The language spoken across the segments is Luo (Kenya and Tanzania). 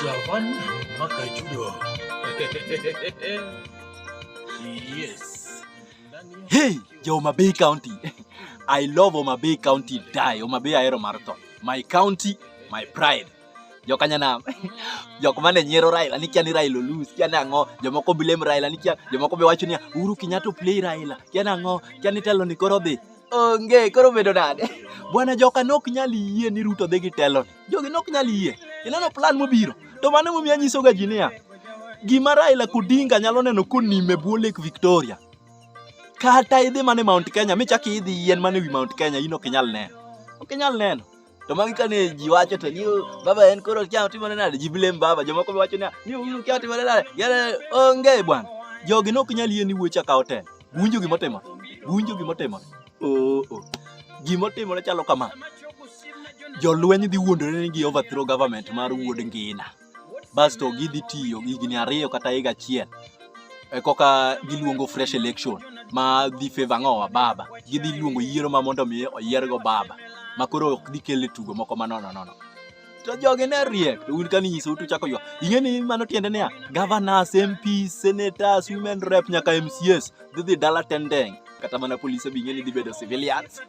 Javan Makajudo. yes. Hey, jo Homa Bay County. I love Homa Bay County die. Homa Bay ahero mar tho. My county, my pride. Joka nyanam. Jok mane nyiero Raila ni kia ni Raila lose, kia nango. Jomoko blame Raila ni kia, jomoko be wacho ni Uhuru Kenyatta play Raila. Kia nango, kia ni telo ni koro dhi. onge koro bedo nade bwana joka nok nyal yie ni ruto dhi gi teloni jogi nok nyal yie ineno plan mobiro to mano emomiyo anyisoga ji niya gima raila kudinga nyalo neno konime bwo lake victoria kata idhi mana e mount kenya michak idhi yien mana ewi mount kenya in ok inyal neno ok inyal neno To magi ka ne ji wacho to ni baba en koro kia timo ne nade ji blame baba jomoko be wacho ni ni uru kia timo ne nade yale onge bwana jogi nok nyal yie ni wuoch akawo ten winjo gima timo winjo gima timo oo oh. gima timo ne chalo kama jolweny dhi wuondore ni gi overthrow government mar wuod ngina basto gidhi tiyo higni ariyo kata higa achiel e koka giluongo fresh election ma dhi favor ng'owa baba gidhi luongo yiero ma mondo mi oyiergo baba ma koro ok dhi kele tugo moko ma nono nono to jogi ne riek to un kani nyiso utu chako ywa ing'e ni mano tiende niya governors mps senators women rep nyaka mcs dhi dhi dala tendeng kata mana polise bi ing'e ni dhi bedo civilians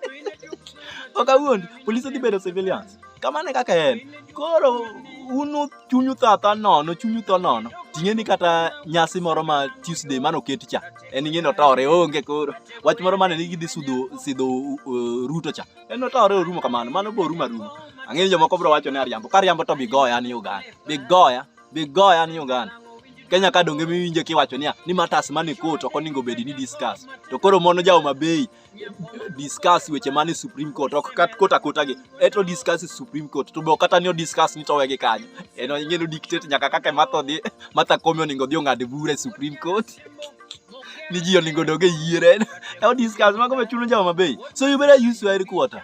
ok awuondi polise dhi bedo civilians kamano e kaka en koro uno chunyu thata nono chunyu tho nono ting'e ni kata nyasi moro ma tuesday mane oket cha en ing'e notore onge koro wach moro mane ni gidhi sudo sidho uh, ruto cha en notore orumo kamano mano bo orumo arumo ang'e ni jomoko bro wacho ni ariambo ka ariambo to bigoya ni uganda bigoya bigoya ni uganda Kenya ka donge miwinje kiwacho niya ni matas mane court ok oningo bedi ni discuss to koro mono jaoma bei discuss weche mane Supreme Court ok kat kota kota gi eto discuss Supreme Court to be ok kata ni discuss ni to wege kanyo en onge no dictate nyaka kaka matho dhi matha komi oningo odhi ong'ad bura e Supreme Court ni ji oningo dog e yiere e discuss mago be chuno jama bei so you better use your headquarter